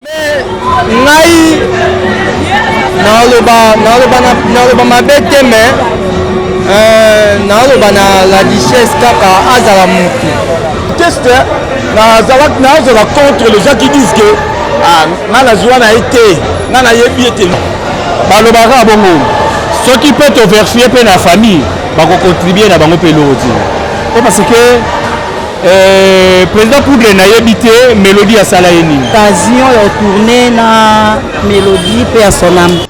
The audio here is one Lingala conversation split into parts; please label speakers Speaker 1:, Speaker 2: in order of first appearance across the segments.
Speaker 1: Mais ngai naloba naloba naloba mabe te mais euh, naloba na la duchesse kaka azala mutu teste
Speaker 2: nazalaki nazala contre les gens qui disent que ah, nga nazwa na ye te nga nayebi ye te balobaka bongo soki mpe toverifie mpe na famille bakocontribue na bango mpe eloko ti mpo parce que Euh, président poudre nayebi te mélodie asala ye nini occasion ya otourne
Speaker 3: na mélodie mpe ya soname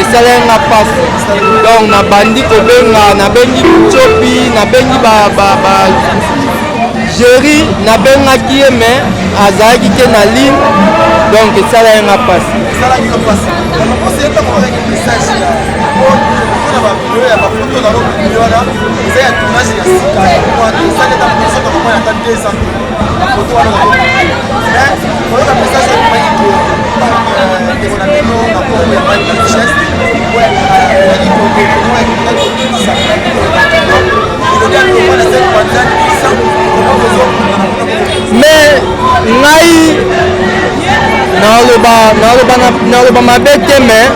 Speaker 1: esalaki nga mpasi donc nabandi kobenga nabengi copi nabengi jeri nabengaki ye me azalaki te na ligne donc esalaki nga mpasi mais ngai naloba naloba naloba mabe te mais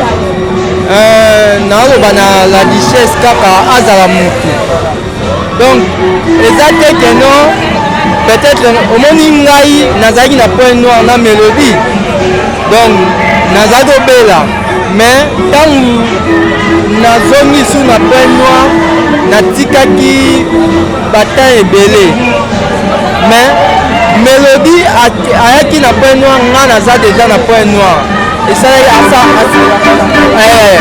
Speaker 1: euh, naloba na la richesse kaka azala motu donc eza te que non peut-être omoni ngai nazalaki na point noir na mélodie donc nazali kobela mais ntango nazongi su na point noir natikaki batemp ebele mais mélodie ayaki na point noir nga naza deja na point noir esali asa eh,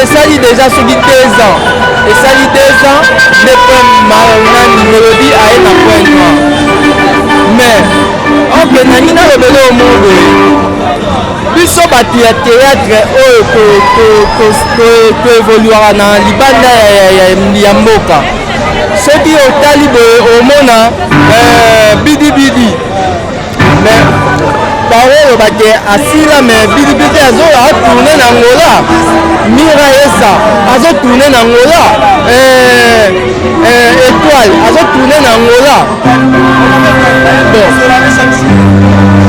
Speaker 1: esali deja soki deux ans esali deux ans nde point nani melodi aye na point noir mais oke nani nalobela omo boye biso bato ya théâtre oyo toevoluaka na libanda ya mboka soki otali boye omona eh, bidibidi baoyo bake asila me bilibite azoya atourne na ngola mira esa azotourne na ngola eh, eh, étoile azotourne na ngola bon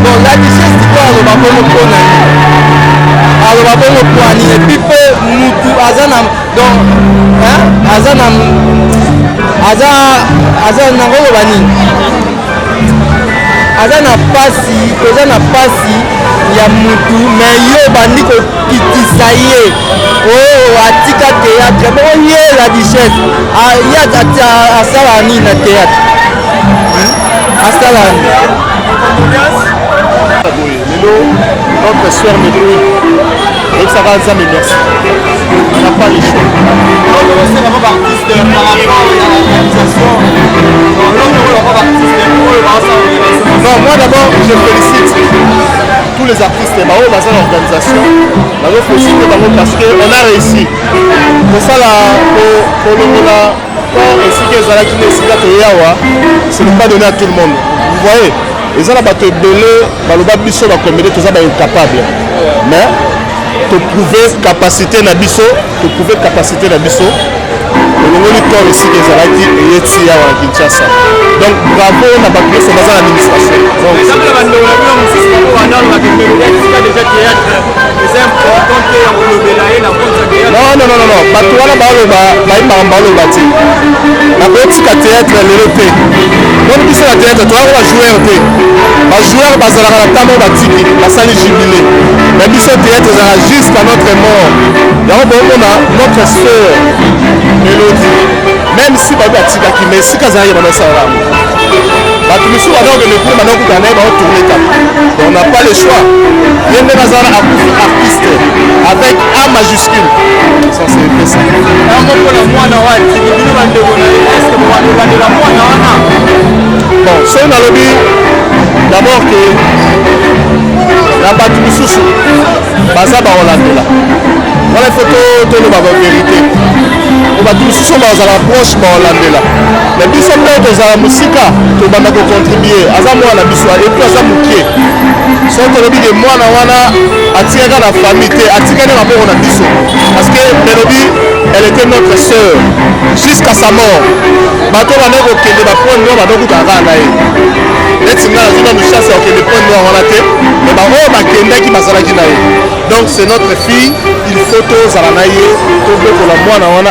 Speaker 1: bon la richesse diko aloba bongo mpona aloba bongo pwani epuis mpe mutu aza na donc aza na aza aza na ngoloba nini aza na pasi toza na pasi ya mutu me yo obandi kokitisa ye o oh, atika théâtre moko ye la duchesse ah, ye asala nini na théâtre hmm? asala nini
Speaker 2: lelo notre soeur mekui oyebisaka nzambe merci na pas le choix okosenga kaka artiste par rapport ya réalisation olongokola kaka artiste oyo baosala non moi d'abord je félicite tous les artistes baoyo baza na organisation bazofélicite bango parce que on a réussi kosala kolongola Quand esika ezalaki na esika toye awa, ce n'est pas donné à tout le monde. Vous voyez, eza na bato ebele baloba biso bakomede toza ba incapable mais toprouve capacité na biso toprouve capacité na biso olongoli corps esika ezalaki eye ti awa na kinshasa donc bravo na bato nyonso baza na administration non non non non bato wana baloba bayembaka baloba te nakotika théâtre lelo te boni biso na théâtre toyaka bajoueur te bajoueur bazalaka na ntango batiki basali jubile me biso théâtre ezalaka jusqu'à notre mort yango bokomona notre sœur melodi même si bato batikaki mais esika azalaki bana esalaka bato misusu baza kokende kuna banda kokutana na ye baotourne kaka donc na pas le choix ye nde naza wana akufi artiste avec a majuscule ça c'est vrai ça yango mpona mwana wana soki bino bandeko na ye eske bobandobandola mwana wana bon soki nalobi d'abord ke na bato misusu baza baolandela wana ifo toloba ba verité po bato misusu bazala proche baolandela na biso mpe tozala mosika tobanda kocontribue aza mwana na biso epuis aza moke soki tolobi ke mwana wana atikaka na famille te atikaki maboko na biso parce que melodi elle était notre sœur jusqu'à sa mort bato bandaki kokende bapoint noir bandokutaka kaka na ye neti ngai nazwi nanu chance ya kokende point noir wana te me baoyo bakendaki bazalaki na ye donc c'est notre fille il faut tozala na ye tobokola mwana wana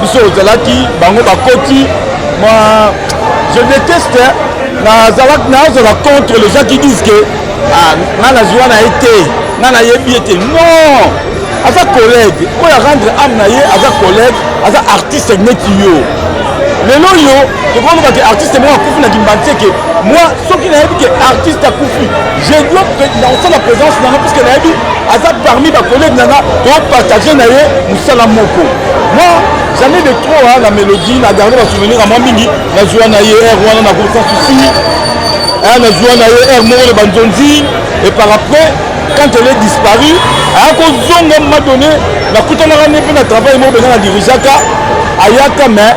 Speaker 2: biso ozalaki bango bakoti ma je déteste nazalaki nazala contre les gens qui disent que ah, nga nazwa na ye te nga nayebi ye te non aza collègue oyo arendre ame na ye aza collègue aza artiste neti yo lelo oyo tokoloba ke artiste moko akufi na kimbanti eke moi soki nayebi ke artiste akufi je dois nakosala présence nanga puiske nayebi aza parmi bacollègue nanga topartage na ye mosala moko Moi, jamais de trop hein, la mélodie, na garde ba souvenir à moi mingi, na joie na ye air wana na groupe sans souci. Hein, na joie na ye air moko de banzonzi et par après quand elle est disparue, à cause zonga m'a donné, na kutanaka ne pe na travail mo benga na dirigeaka ayaka mais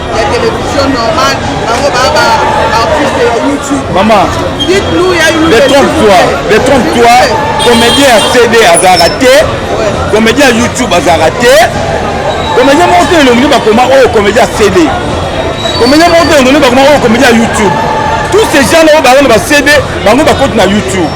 Speaker 4: ya television normal bango ba ba artiste ya youtube mama détrompe-toi détrompe-toi
Speaker 2: comédien ya cd azalaka te comédien ya youtube azalaka te comédien moko te elongi bakoma oyo comédien ya cd comédien moko te elongi bakoma oyo comédien ya youtube tous ces gens na oyo bazana ba cd bango bakoti na youtube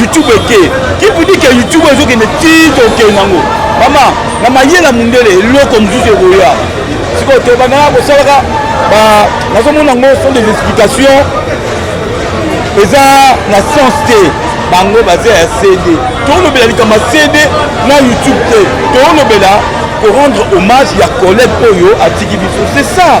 Speaker 2: youtube eke kipudike youtube ezokende tito okende yango mama na mayela mundele eloko mosusu ekoya sikoyo tobandaka kosalaka nazomona yango sont des explications eza na sens te bango baza ya cd tolobela likambo ya cd na youtube te tolobela korendre hommage ya collègue oyo atiki biso c'est ça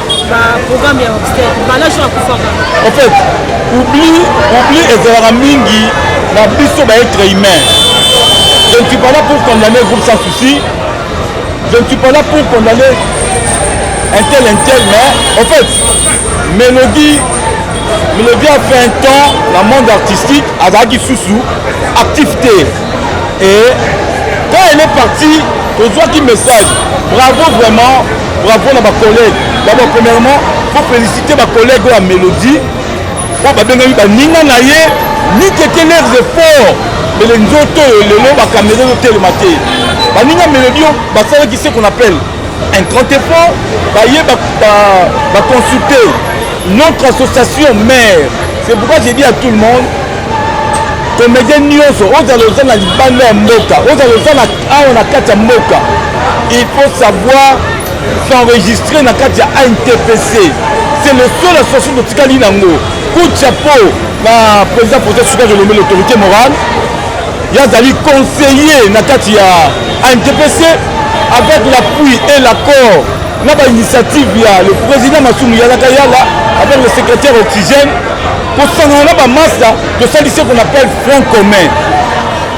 Speaker 3: baprogramme ya obstate balaso
Speaker 2: akufaka en fait oubli oubli ezalaka mingi na biso baetre humain je ne suis pas là pour condamner groupe sans souci je ne suis pas là pour condamner un tel un tel mais en fait mélodie mélodie a fait un temps na monde artistique azalaki susu actif te et quand elle est partie tozwaki message bravo vraiment Bravo na ba collègues. D'abord premièrement, faut féliciter ba collègues oyo ya Melodie. Oyo babengami baninga na ye mikeke leurs efforts mele nzoto oyo lelo bakamera ezotelema te baninga melodi oyo basalaki se qu'on appelle un grand effort baye baconsulte notre association mare c'est pourquoi j'ai dit à tout le monde comédien nyonso ozala oza na libanda ya mboka ozala oza na awa na kati ya mboka il faut savoir s'enregistrer na kati ya antpc c'est le seul association totikali nango coup de chapeau na président projet suka jolombe l'autorité morale ye azali conseiller na kati ya antpc avec l'appui et l'accord na bainitiative ya le président masumu yalaka yala avec le secrétaire oxygène kosangana na bamasa tosalisi qu'on appelle front commun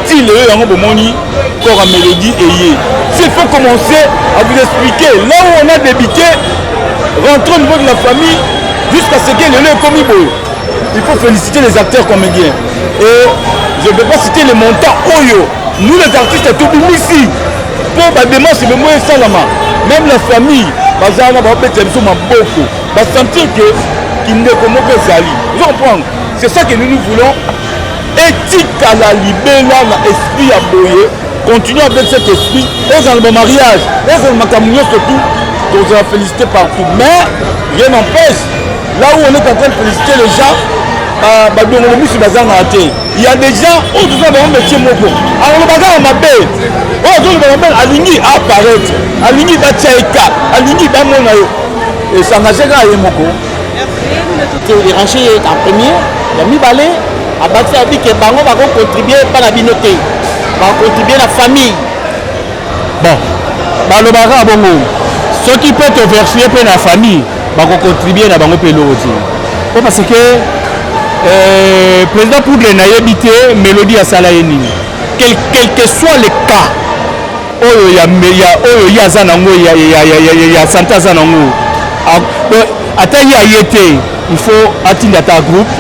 Speaker 2: ti lelo yango bomoni kora melodie eye s'il faut commencer à vous expliquer là où on a débité rentre au niveau de la famille jusqu'à ce que lelo ekomi boye il faut féliciter les acteurs comédiens et je ne peux pas citer les montants oyo nous les artistes tobimisi mpo badémarche bemo esalama même la famille baza wana babetela biso maboko basentir que kindeko moko ezali ozo comprendre c'est ça que nous nous voulons etikala libela na esprit ya boye continue avec cet esprit ezala ba mariage ezala makambo nyonso tout tozala félicité partout mais rien n'empêche là où on est en train de féliciter les gens euh, badongolo misu bazangaka te ya des gens oyo toza bango métier moko aloloba kaka mabe oyo azoloba mabe alingi apparaître alingi batya eka alingi bamona yo esangase kaka ye moko
Speaker 5: derange ye en premier ya mibale abakisi abi ke bango bakocontribue epa na bino te bakocontribue na famille
Speaker 2: bon balobaka bongo soki mpe toverfie mpe na famille bakocontribue na bango mpe eloko te mpo parce que euh, président poudre nayebi te mélodie asala ye nini quel, quel que soit le cas oyo ya ya oyo ye aza na ngo ya ya ya ya ya santa aza na ngo ata ye aye te il faut atinda ta groupe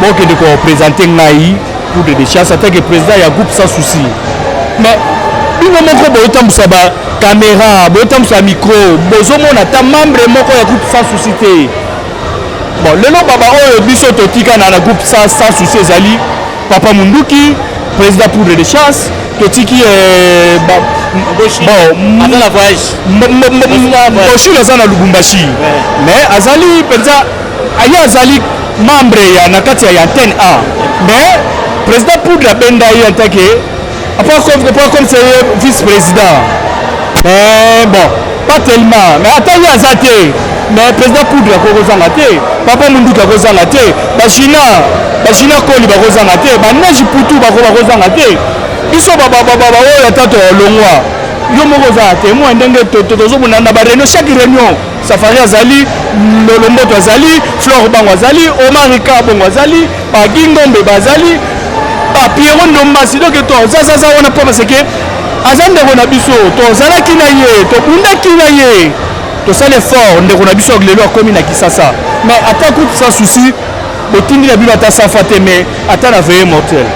Speaker 2: bokende ko présenter ngai pour de décharge ata que président ya groupe sans souci mais bino moko botambusa ba caméra botambusa micro bozomona ata membre moko ya groupe sans souci te bon lelo baba oyo biso totika na na groupe sans souci ezali Papa Munduki, président poudre de chasse, totiki euh, ba, bon, aza na voyage
Speaker 5: boshul
Speaker 2: aza na lubumbashi mais azali mpenza aye azali membre ya na kati ya antenne a mais président poudre abenda ye en tant que Pas comme, pas comme c'est vice-président. Mais bon, pas tellement. Mais attends, il y a ça, mais président poudre akozanga te papa munduki akozanga te bachina bachina koli bakozanga te baneji putu bako bakozanga te biso baoyo ata tolongwa yo moko ozala temoin ndenge tozobunda na bareunion chaque réunion Safari azali, Lolomboto azali, Flore Bango azali, Omari Kabongo azali, Pagi Ngombe bazali, ba Pierrot Ndombasi donc toza zaza wana mpo parce que aza ndeko na biso, tozalaki na ye, tobundaki na ye, tosali effort ndeko na biso lelo akomi na Kisasa, mais ata kutu sans souci botindi na bino ata safa te, mais ata na veye mortel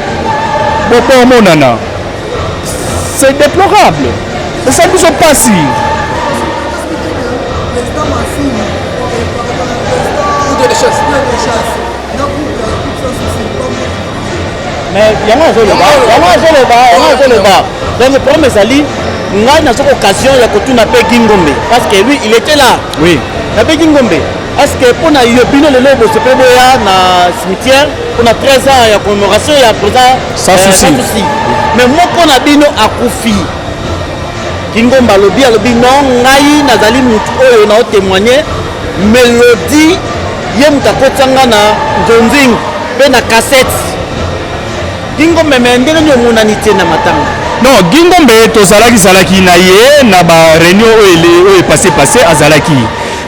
Speaker 2: bokomonana. C'est déplorable. C'est ça qui se passe.
Speaker 5: mais yango azoloba yango azoloba yango azoloba donc problème ezali ngai nazoki occasion ya kotuna mpe gingombe parce que lui il était là oui na mpe
Speaker 2: gingombe
Speaker 5: est-ce que mpo na yo bino lelo bosepeli boya na cimetière mpo na 13 ans ya commémoration ya président sans eh, souci
Speaker 2: mais moko
Speaker 5: na bino akufi kingomba alobi alobi no ngai nazali motu oyo na otemoigne melodi ye moto akotisa nga na nzonzing mpe na kasete kingomba me ndenge nini omonani te na matanga non gingombe
Speaker 2: tozalaki zalaki na ye na bareunion oyo epase pase azalaki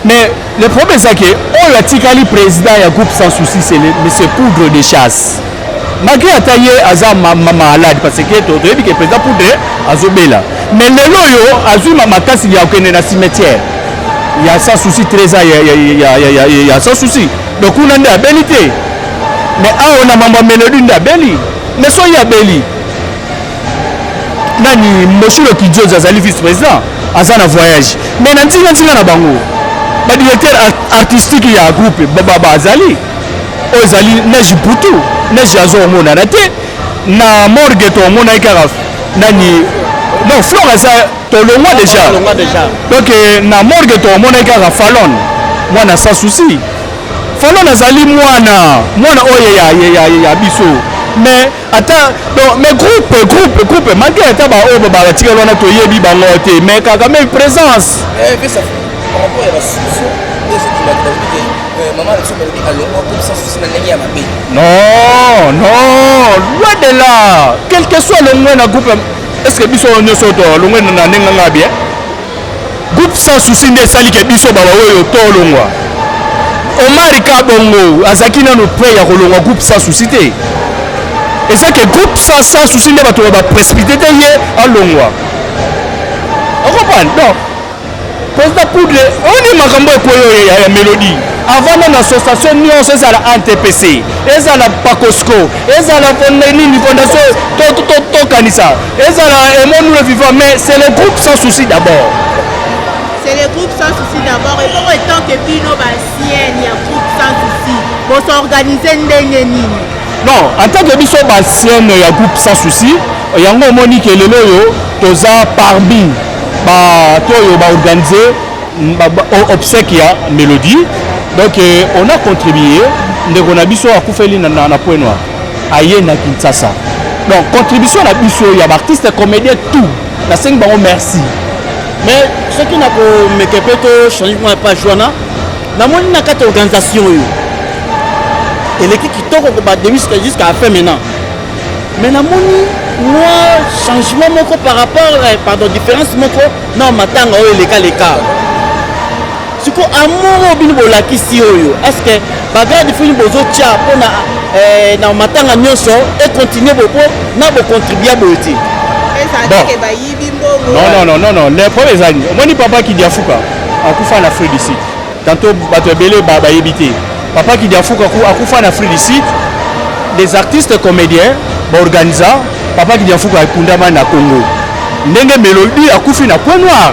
Speaker 2: mais le problème ezake oyo atikali président ya groupe sans souci c'est le, le poudre de chasse malgré ata ye aza malade parce que toyebi ke président poudre azobela mais lelo oyo azwi makasi ya kokende na cimetière ya sans souci trésor ya sans souci donc kuna nde abeli te mais awa na mambo ya melodi nde abeli mais soki abeli nani moshilo kidiozi azali vice président aza na voyage mais na ntingantinga na bango badirecteur artistique ya groupe bazali ba, oyo ezali neige butu neige ya zo omonana te na morgue to omonaki kaka nani donc flore aza tolongwa deja donc eh, na morgue to omonaki kaka falone mwana sans souci falone azali mwana mwana oyo ya, ya, ya, ya biso mais ata donc mais groupe groupe groupe malgré ata baoyo batikali wana toyebi bango te mais kaka mais présence eh,
Speaker 6: non
Speaker 2: non loin de là quel que soit longwe na groupe est ce que biso nyonso to longwe na ndenge nga bien Groupe sans souci nde esali ke biso baba oyo tolongwa. Omari Kabongo azaki nano près ya kolongwa groupe sans souci te. Eza ke groupe sans sans souci nde bato ba précipité te ye alongwa. Okopan donc président Poudre oni makambo ekoyo ya, ya Melody avant nano association nyonso ezala NTPC ezala Pakosco ezala nini fondation tokanisa to, to, to, ezala aimons nous le vivant mais c'est le groupe sans souci d'abord c'est
Speaker 7: le groupe sans souci d'abord ekoko etant que bino bancienne ya groupe sans souci bosorganize
Speaker 2: ndenge nini non en tant que biso bancienne ya
Speaker 7: groupe
Speaker 2: sans souci yango omoni ke lelo oyo toza parmi bato oyo baorganize obsèque ya mélodie donc euh, on a contribué ndeko na biso akufeli na, na, na point noir aye na Kinshasa donc contribution na biso ya baartiste comédien tout nasengi bango merci mais
Speaker 5: soki nakomeke mpe tochange mwa page wana namoni na kati ya organisation oyo eleki kitoko kobademi jusqu'à la fin maintenant mais namoni mwa changement moko par rapport eh, pardon différence moko na matanga oyo elekaleka siko amour oyo bino bolakisi oyo estce bagarde fini bozotya mpona eh, na matanga nyonso econtinue bopo na bocontribua boye te nonnnnn
Speaker 2: le problème ezali omoni papa kidiafuka akufa na afrique du sud tanto bato ebele bayebi te papa kidiafuka akufa na afrique du sud des artistes comédiens baorganisa papa kidiafuka akundama na congo ndenge melodi akufi na point noir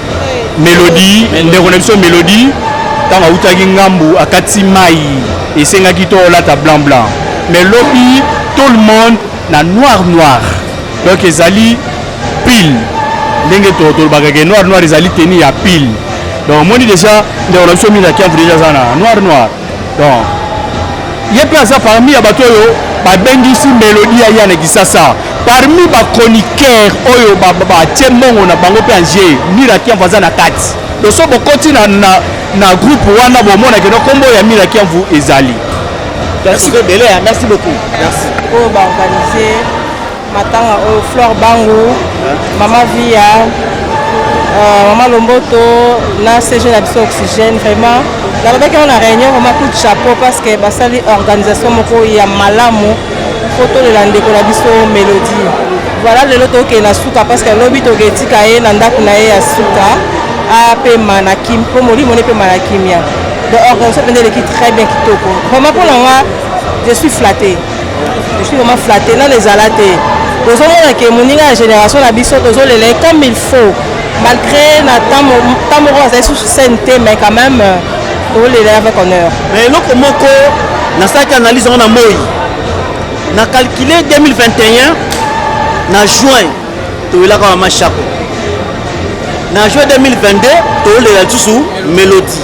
Speaker 2: melodie ndeko na biso melodie ntango awutaki ngambu akati mai esengaki to olata blanc blanc mais lobi tout le monde na noir noir donc ezali pile ndenge tolobaka ke noir noir ezali teni ya pile donc omoni deja ndeko na biso mingi na kiamvu deja aza na noir noir Donc, ye mpe aza parmi ya bato oyo babengisi melodi ya yana kisasa parmi bachroniqueur oyo batie mbongo na bango mpe ange mirakiamvu aza na kati loso bokoti na, na, na groupe wana bomonake no nkombo ya mirakiamvu ezali merci,
Speaker 5: merci beaucoup merci. oyo baorganize
Speaker 3: Matanga oyo oh, Flore Bangu, Mama Via, euh, Mama Lomboto, na CG na biso Oxygène vraiment nalobaki yango na réunion vraiment coup de chapeau parce que basali organisation moko ya malamu mpo tolela ndeko na biso Mélodie voilà lelo tokende na suka parce que lobi toketika ye na ndako na ye ya suka apema na kim mpo molimo nepema na kimia donc organisation mpenza eleki très bien kitoko vraiment mpo na nga je suis flattée Je suis vraiment flatté, nani ezala te tozomona ke moninga ya génération na biso tozolela comme il faut malgré na temps moko azali susu scène te mais quand même euh, tolela avec honneur mais eloko moko
Speaker 5: nasalaki analyse yango na moi na calcule 2021 na juin toyelaka na mashako na juin 2022 toyolela lisusu melodie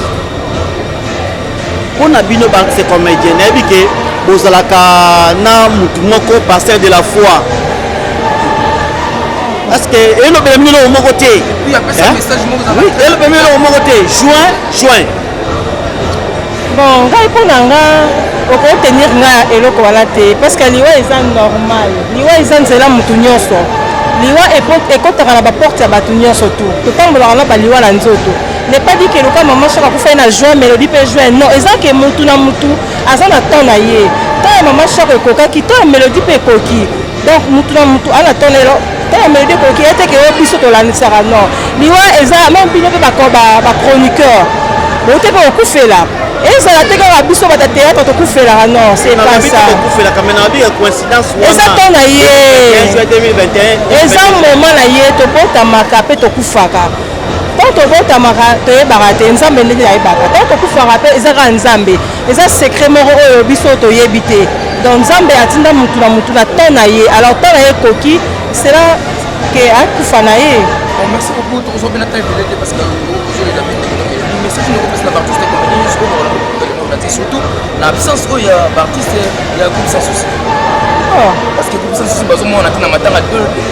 Speaker 5: pona bino ba se comédien nayebi ke bozalaka na mutu moko pasteur de la foi parce que elobela bino eloko moko te elobela bino eloko moko te juin juin
Speaker 3: bon ngai mpo na nga okoki tenir nga eloko wana te parce que liwa eza normal liwa eza nzela motu nyonso liwa ekotaka na baporte ya bato nyonso tu totambolaka na baliwa na nzoto n'est pas dit que loka maman choc akufai na juin mais elobi mpe juin non eza ke mutu na mutu aza na temps na ye temps ya maman choc ekokaki temps ya melodi mpe ekoki donc mutu na mutu ana temps lelo temps ya melodi ekoki ye te ke yo biso tolandisaka non liwa eza meme bino mpe bachroniqueur bote mpe kokufela ezala te kaka biso bata théâtre tokufelaka non c'est pas ça eza temps na ye eza moment na ye tobotamaka mpe tokufaka ntango tobotamaka toyebaka te nzambe ndenge ayebaka ntango tokufaka mpe eza kaka nzambe eza secret moko oyo biso toyebi te donc nzambe atinda motu na motu na temps na ye alors temps na ye ekoki cela ke akufa na ye merci beaucoup
Speaker 6: tokozwa mpe na temps ebele te parce que ozolela message noko mpesa na baartiste komedi nyonso oyo surtout na absence oyo ya baartiste ya groupe sans souci parce que groupe sans souci bazomona te na matanga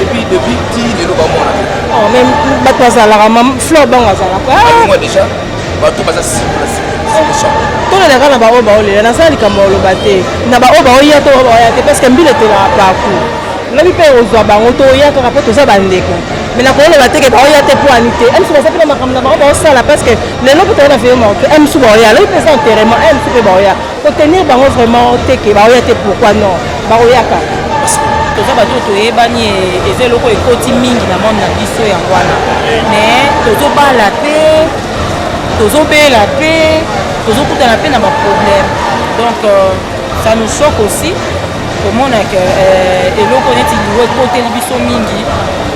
Speaker 6: epuis depuis ti lelo bamona oh, me
Speaker 3: bato bazalaka fleur bango azalaka ah! déjà
Speaker 6: bato baza
Speaker 3: tolelaka na baoyo baolela naza likambo oloba te na baoyo baoya to baoya te parceke mbila etolaka paku lobi mpe ozwa bango toya kaka mpo toza bandeko me nakoloba teke baoya te mpo ani te emisu baza mpe na makambo na bango baosala parceke lelo mpe toyona veyo maoke emisu baoya lobi mpe eza enterrement emisu mpe baoya Ko tenir bango vraiment te ke ba oya te pourquoi non? Ba oyaka. Toza
Speaker 8: bato toyebani eza eloko ekoti mingi na monde na biso ya wana. Mais tozo bala pe tozo bela pe tozo kutana pe na ba problème. Donc euh, ça nous choque aussi komona ke euh, eloko neti liwa ekoteli biso mingi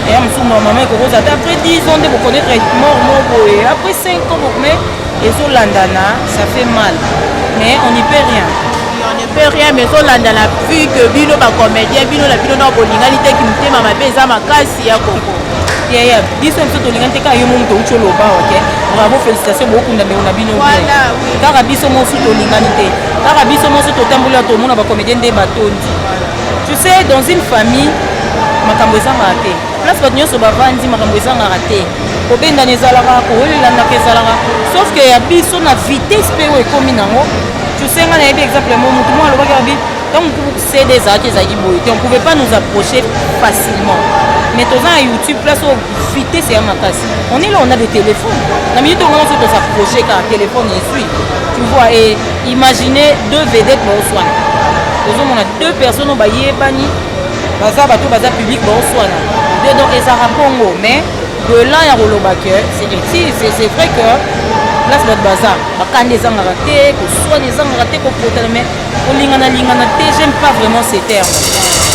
Speaker 8: eya mosusu normalement ekokoza ata après 10 ans nde bokonaître mort moko boye après 5 ans mais ezolandana ça fait mal mais on n'y peut rien on ne peut rien
Speaker 7: mais ezolandana vu que bino bacomédien bino na bino nao bolingani te kimotema mabe eza makasi ya koko yaya biso
Speaker 8: biso tolingani te kaka yo momu touti oloba oke bravo félicitation bokunda ndeko na bino kaka
Speaker 7: biso mosu
Speaker 8: tolingani te kaka biso mosu totamboli ya tomona bacomédien nde batondi tu sais dans une famille makambo ezangaka te place bato nyonso bavandi makambo ezangaka te kobendana ezalaka kolelanaka ezalaka sauf que ya biso na vitesse mpe oyo ekomi nango tusenga nayebi exemple mo motu moko alobaki abi ntango cd ezalaki ezalaki boye te on pouvait pas nous approcher facilement mais toza na youtube place oyo vitesse ya makasi on est là on a des téléphones na minute ongo nyonso tosapproche kaka téléphone ezwi tu vois et imagine deux vedette baoswana ozomona deux personnes oyo bayebani baza bato baza public baoswana de donc ezalaka bongo mais de là ya koloba ke c'est vrai que place bato baza bakanda ezangaka te koswana ezangaka te kopotana mais kolingana lingana te j'aime pas vraiment ce terme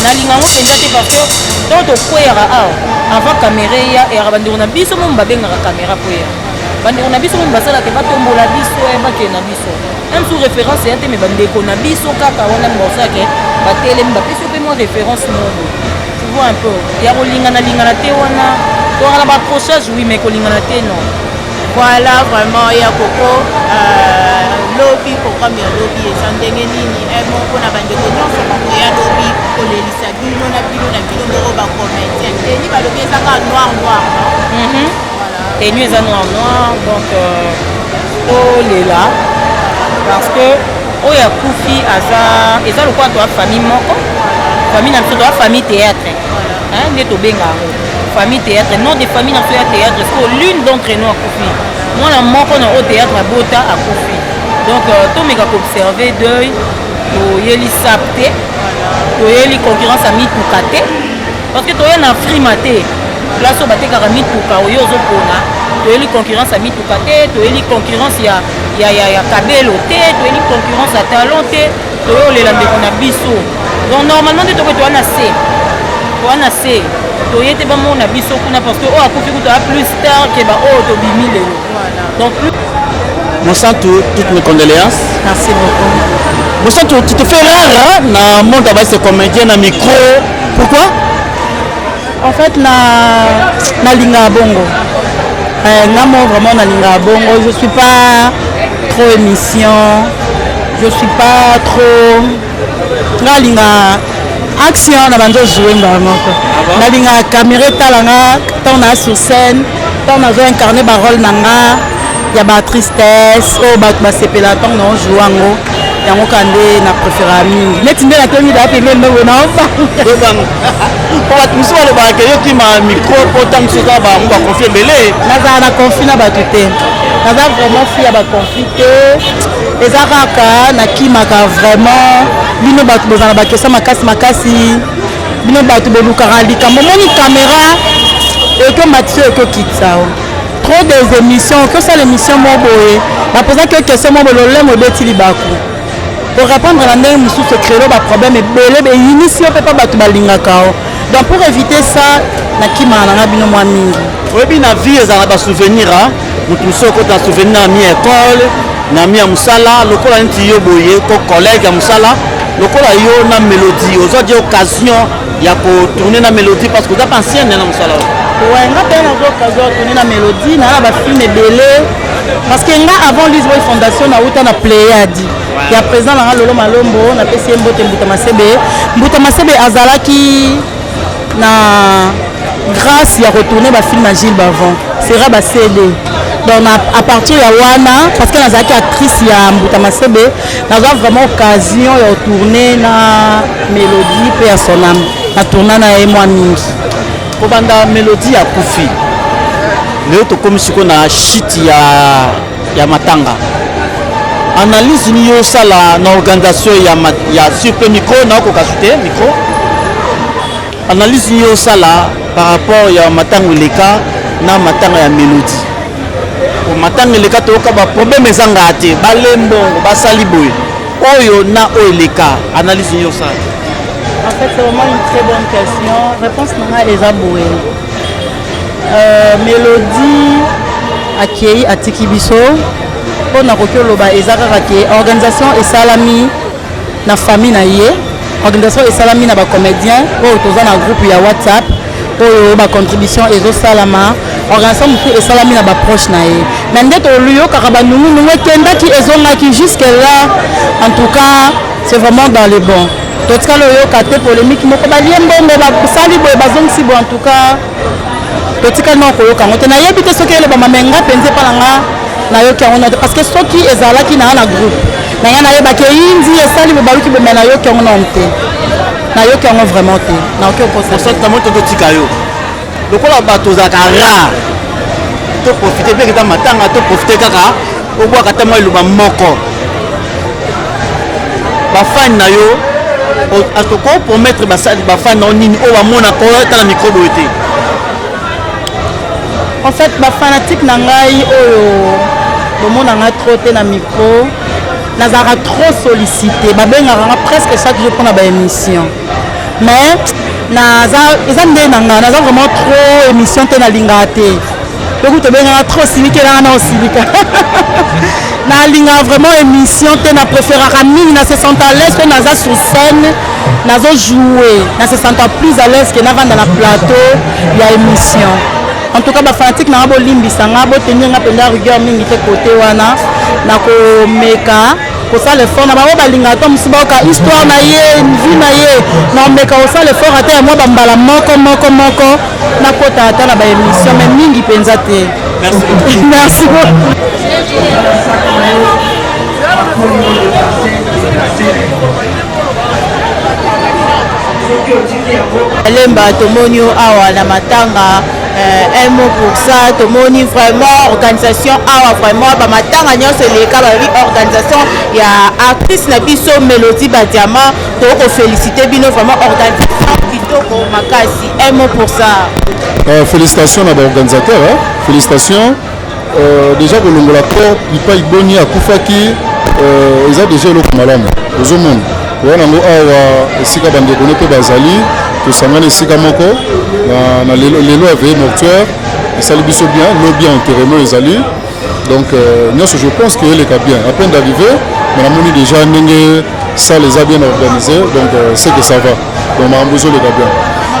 Speaker 8: nalinga yango mpenza te parce que ntango tokweyaka awa avant kamera eya eyaka bandeko na biso momo babengaka kamera kweyaka bandeko na biso momo basalaka batombola biso eh, bakende na biso Même sous référence ya te mais bandeko na biso kaka wana mbosake batelemi bapesi yo mpe mwa référence mobo tu vois un peu ya kolingana lingana te wana tozalaka na baaccrochage oui mais kolingana te non voilà
Speaker 7: vraiment ya koko euh, lobi programme ya lobi eza ndenge nini eh, moko na bandeko nyonso bango ya lobi kolelisa bino na bino na bino moko bacomédien teni balobi eza kaka noir noir mhm. Tenue
Speaker 8: eza noir noir donc euh, olela parce que oyo akufi aza eza lokola toa famille moko famille na biso toa famille théâtre nde tobenga yango famille théâtre non de famille na biso ya théâtre siko l'une d'entre nous akufi mwana moko na oyo théâtre abota akufi donc euh, tomeka koobserve deuil toyeli sap te toyeli concurrence ya mituka te parce que toya na frima te place oyo batekaka mituka oyo ozopona toyeli concurrence ya mituka te toyeli concurrence ya, ya, ya, ya kabelo te toyeli concurrence ya talon te toyolela ndeko na biso donc normalement nde tokoki towana se towana se toye te bamona biso kuna parce que oyo akufi kutu a plus tard ke baoyo oh, tobimi lelo donc plus
Speaker 5: Monsanto, toutes mes condoléances. Merci beaucoup.
Speaker 8: Monsanto, tu
Speaker 5: te fais rare hein, dans le monde, c'est comédien, dans le micro. Pourquoi
Speaker 9: En fait na nalingaka bongo euh, nga mo vraiment nalingaka bongo je suis pas trop émission je suis pas trop nga alingaka action na banzo joue mbala moko ah nalingaka camera etala nga ntango naa sur scène ntango nazo incarne barole na nga ya batristesse oyo oh, bato basepela ntango nao joue yango yango ka nde na préférera mingi neti nde natomi daa pembeni ndogo naobanga
Speaker 5: po bato mosusu balobaka ke yo kima micro po ntango mosusu oza bango bakonfi ebele nazala na konfi na
Speaker 9: bato te naza vraiment fi ya bakonfi te eza kaka nakimaka vraiment bino bato bozala bakesa makasi makasi bino bato bolukaka likambo omoni kamera ekomatisi oyo ekokitisa o trop des émissions okosala émission moko boye bapozaki yo question moko bololemo ebeti libaku orepondre na ndenge mosusu ekrelo baproblème ebele beyinisi yo mpe mpa bato balingaka yo donc pour éviter ça nakimaka na nga bino mwa mingi oyebi na vie
Speaker 5: ezala basouvenir a moto mosusu okota na souvenir na mi école na mi ya mosala lokola neti yo boye ko collègue ya mosala lokola yo na mélodie ozwa di occasion ya kotourne na mélodie parce que oza mpe ancienne na mosala oyo nga mpe
Speaker 9: naza occasion ya tourne na mélodie naa na bafilme ebele parce que nga avant lise boy fondation nauta na pléiade ya président na nga lolo malombo napesi ye mbote mbuta masebe mbuta masebe azalaki na grâce ya retourne bafilme ya gilles bavon sera ba cd donc na, à partir ya wana parce que nazalaki actrice ya mbuta masebe nazwa vraiment occasion ya retourne na mélodie mpe ya sonam na tourna na ye mwa mingi Kobanda
Speaker 5: melodie ya kufi leo tokomi siko na shiti ya, ya matanga analyse nini osala na organisation ya, ya surpe micro naokoka sute micro analyse nini osala par rapport ya matanga eleka na matanga ya melodie matanga eleka toyoka baproblème ezangaa te balembongo basali boye oyo na oyo eleka analyse nini osala en fait c'est
Speaker 9: vraiment une très bonne question réponse na ngai eza boye euh, mélodie akei atiki biso mpo nakoki oloba eza kaka ke organisation esalami na famille na ye organisation esalami na bacomédien oyo toza na groupe ya whatsapp oyo ba contribution ezosalama organisation mosusu esalami na baproche na ye mais nde toluyokaka banungunungu ekendaki ezongaki jusque là en tout cas c'est vraiment dans le bon totikala oyoka te polémique moko balie mbongo basali boye bazongisi boye en tout cas totikali nao koyoka yango te nayebi te soki elobama me nga mpenza epa na nga nayoki yango note parce que soki ezalaki na nga na groupe na nga nayebaki eyindi esali bobaluki bomea nayoki yango nao te nayoki yango vraiment te nayoki okosaosakita moto totika
Speaker 5: yo lokola bato ozalaka rare toprofite mpe kita matanga toprofite kaka obwaka ata mwa eloba moko bafani na yo atoko promettre bafani na yo nini oyo bamona koyata na mikrobe oyo te
Speaker 9: en fait bafanatike na ngai oyo bomona ngai trop te na micro nazalaka trop sollicité babengaka nga presque chaque jour mpona baémission mais naza eza nde na nga naza vraiment trop émission te nalingaka te lokuta obengaka trop osilikelanga na osilika nalingaka vraiment émission te na préféraka mingi na se sente à l'aise mpe naza sur scène nazo joue na se sente plus à l'aise ke navanda na plateau ya émission En tout cas ba fanatique na nga bolimbisa nga botenir nga mpenza rigueur mingi te kote wana nakomeka kosala effort na bango balingaka to mosusu bayoka histoire na ye vie na ye nakomeka kosala effort ata ya mwa bambala moko moko moko nakota ata na baémission mais mingi mpenza te
Speaker 5: merci
Speaker 7: Lemba tomoni yo awa na matanga eh, un mot pour ça tomoni vraiment organisation awa vraiment bamatanga nyonso eleka balobi organisation ya artiste na biso mélodie badiama tokoki kofélicité bino vraiment organisation kitoko makasi un mot pour ça euh, félicitations
Speaker 2: na baorganisateur hein? félicitations Euh, deja kolongola corps ipai boni akufaki euh, eza deja eloko malamu ozomona oya nango awa esika bandeko ne mpe bazali tosangani esika moko na lelo ya veille mortuaire esali biso bien lobi enterrement ezali donc euh, nyonso je pense que eleka bien à peine d'arriver mais namoni déjà ndenge salle eza bien organisée donc c'est que ça va donc makambo ezoleka bien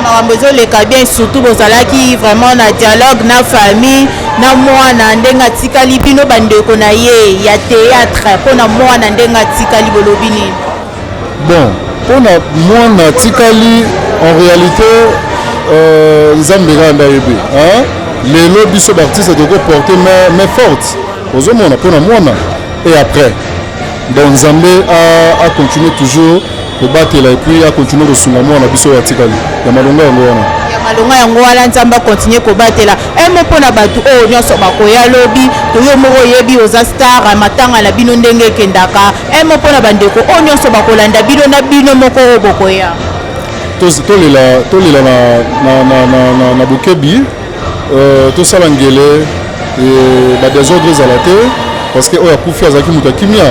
Speaker 2: makambo ezoleka
Speaker 7: bien surtout bozalaki vraiment na dialogue na famille na mwana ndenge atikali bino bandeko na ye ya théâtre mpo na mwana ndenge atikali bolobi nini bon
Speaker 2: mpo na mwana atikali en réalité euh, nzambe kaka nde ayebi lelo biso baartiste tokoki porte mais forte ozomona mpo na mwana et après donc nzambe acontinue toujours kobatela epuis akontinue kosunga mwana biso oyo atikali ya malonga yango wana ya malonga yango wana
Speaker 7: nzambe akontinue kobatela emo eh, mpo na bato oyo nyonso bakoya lobi toyo moko oyebi oza star eh, matanga na bino ndenge ekendaka emo eh, mpo na bandeko oyo nyonso bakolanda bino na bino moko oyo bokoya tolela na bokebi Euh, tosala ngele euh, badesordre ezala te parce que oyo akufi azalaki moto ya kimia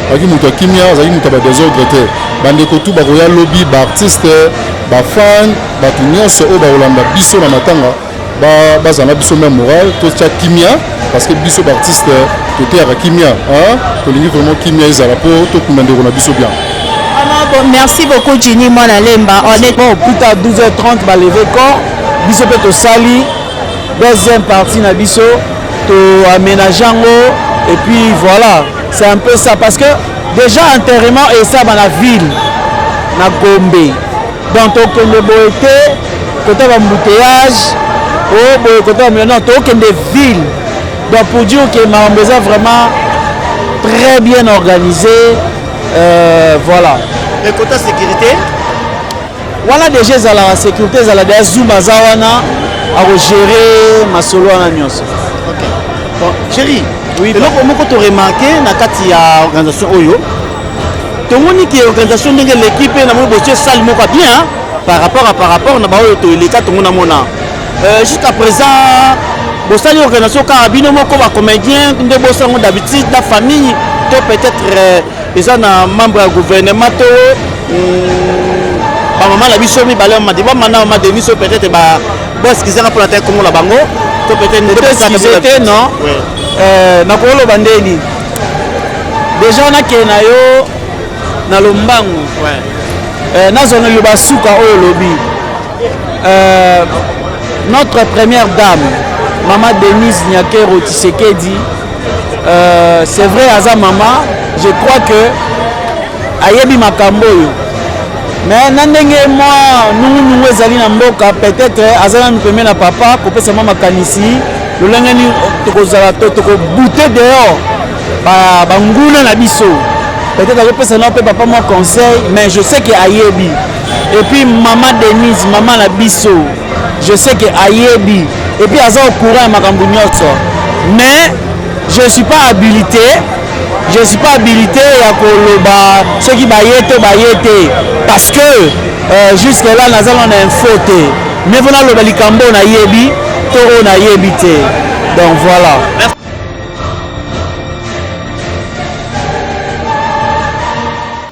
Speaker 7: azalaki moto ya kimia azalaki moto ya badesordre te bandeko tu bakoya lobi baartiste bafane bato nyonso oyo bakolanda biso na matanga bazala na biso meme morale totya kimia parce que biso baartiste toteyaka kimia tolingi vraiment kimia ezala mpo tokunda ndeko na biso bien merci beaucoup Ginny Mwana Lemba. On est bon, plus tard 12h30,
Speaker 5: bah, lever corps. biso mpe tosali deuxième partie na biso to aménage yango et puis voilà c'est un peu ça parce que déjà enterrement esaba na ville na gombe donc tokende boye te kota bambouteillage o oh, boye kota bamila non tokende ville donc pour dire que makambo eza vraiment très bien organisé euh, voilà mais kota sécurité wana deja ezalaka sécurité ezala deja zuma aza wana akogere masolo wana nyonso okay. bon, chéri oui, eloko moko toremarke na kati ya organisation oyo tomoni ke organisation ndenge eleki mpe namoni botie sale moko bien par rapport a par rapport na baoyo toeleka tongo namona euh, jusqu'à présent bosali organisation kaka bino moko bacomédien nde bosango d'habitude na famille to peut-être euh, eza na membre ya gouvernement to hmm, bamama na biso mibale ya madi bamana mama de biso peut-être ba boeskizaka mpo na te kongo na bango to peut-être ndeeskize te non euh, nakoloba ndeni deja nakee na yo na lombangu euh, nazona yo basuka oyo olobi euh, notre première dame mama denise nyakero tisekedi Euh, c'est vrai aza mama je crois que ayebi makambo oyo mais na ndenge mwa nungunungu ezali na mboka peut-être aza nanu pembe na papa kopesa mwa makanisi lolenge nini tokozala to tokobute dehors banguna na biso peut-être azopesa nao mpe papa mwa conseil mais je sais que ayebi epuis mama denise mama na biso Je sais que ayebi et puis aza au courant ya makambo nyonso mais je suis pas habilité je suis pas habilité ya koloba soki baye to baye te parce que euh, jusque là naza na info te mais mpona aloba likambo oyo nayebi to oyo nayebi te donc voilà Merci.